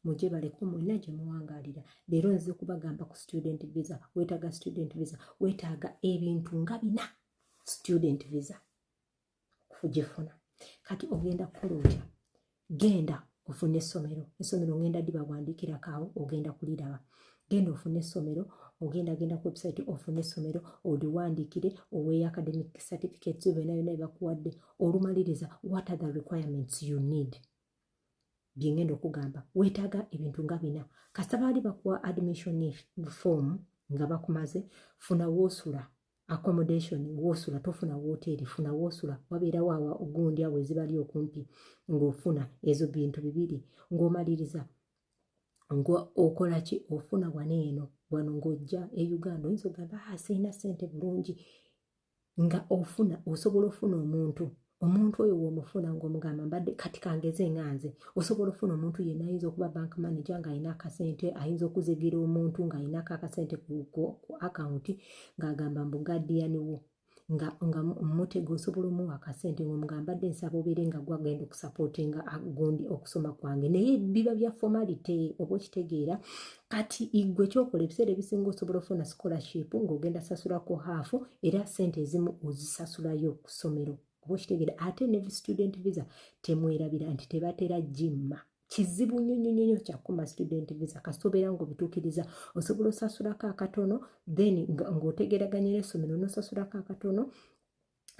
muje baleko mwena gye muwangalira leero nze kubagamba ku student visa wetaaga student visa wetaaga ebintu nga bina student visa okugifuna kati ogenda kukola otya genda ofune essomero essomero ngenda dibawandiikirako awo ogenda kuliraba genda ofune essomero ogenda genda ku website ofune essomero oliwandiikire oweeyo academic certificates byona byona byebakuwadde olumaliriza what are the requirements you need byengenda okugamba weetaaga ebintu nga bina kasita baali bakuwa admission form nga bakumaze funa woosula accommodation wosula tofuna woteeri funa wosula wabeerawo awa ogundi awo ezibali okumpi ng'ofuna ezo bintu bibiri ng'omaliriza ng'okola ki ofuna wano eno wano ng'ojja e uganda oyinza ogamba ah, sirina sente bulungi nga ofuna osobola ofuna omuntu omuntu oyo womufuna ngaomugamba mbadde kati kangeze nga nze osobola ofuna omuntu yena ayinza okuba bank manager ngaalina akasente ayinza okuzigira omuntu ngaalinako akasente ku akawunti ngaagamba mbu gadiyani wo nga nga mutega osobola omuwa akasente ngaomugamba dde nsaba obeere nga gwagenda okusapotinga gundi okusoma kwange naye biba bya formality oba okitegeera kati igwe kyokola ebiseera ebisinga osobola ofuna scholarship ng'ogenda sasulako haafu era sente ezimu ozisasulayo ku ssomero oba okitegere ate ne student visa temwerabira nti tebatera jimma kizibu nnyo nnyo nnyo kyakuma student visa kasita obeera ngaobituukiriza osobola osasulako akatono then ng'otegeraganya n'essomero n'osasulako akatono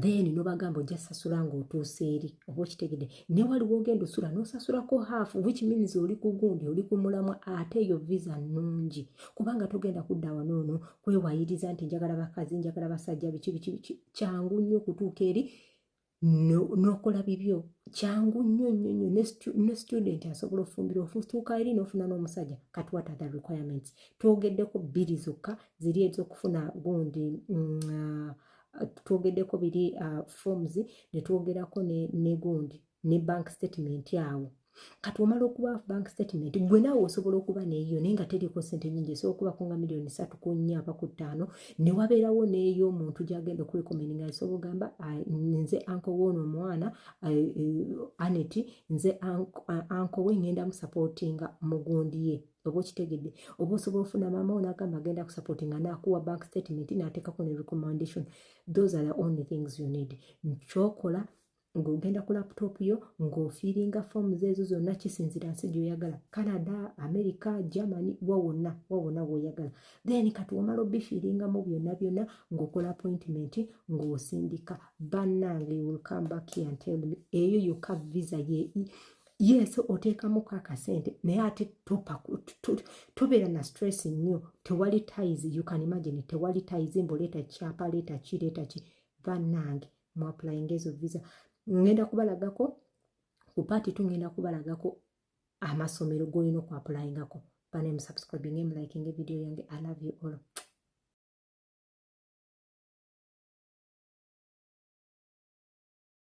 then nobagamba ojja sasula nga otuusa eri oba okitegede ne waliwo ogenda osula nosasulako half which means oli ku gundi oli ku mulamwa ate eyo visa nnungi kubanga togenda kudda wano ono kwewayiriza nti njagala bakazi njagala basajja biki biki biki kyangu nnyo okutuuka eri nokola no bibyo kyangu nnyo nnyo nnyo ne student asobola ofumbira ofutuuka eri nofuna n'omusajja kat what are the requirements twogeddeko bbiri zokka ziri ezokufuna gundi mm, uh, twogeddeko biri uh, forms ne twogerako ne, ne gundi ne bank statement awo kati omala okuba bank statement gwe naawe osobola okuba neeyo naye nga teriko sente nyingi esobola okubako nga miliyoni satu ku nnya aba ku ttaano ne wabeerawo neeyo omuntu gyagenda okurekomend nga nsobola ogamba nze anko woono omwana eh, aneti nze anko we ngenda musapootinga mugundi ye oba okitegedde oba osobola ofuna maama wo nagamba agenda kusupport nga nakuwa bank statement nateekako ne recommendation those are the only things you need nkyokola ng'ogenda ku laputopu yo ng'ofiiringa foomuzi ezo zonna kisinzira nsi gyoyagala canada america germany wa wonna wa wonna woyagala then kati wamala obifiiringamu byonna byonna ng'okola appointment ng'osindika bannange will come back here and tell me eyo yokka visa ye yes oteekamu ko akasente naye ate tobeera na stress nnyo tewali ties you can imagine tewali ties mbu leeta kyapa leeta ki leeta ki bannange mu applyinga ezo visa ngenda kubalagako ku paati tu ngenda kubalagako amasomero g'olina oku applyingako banaye mu subscribing emu liking video yange i love you all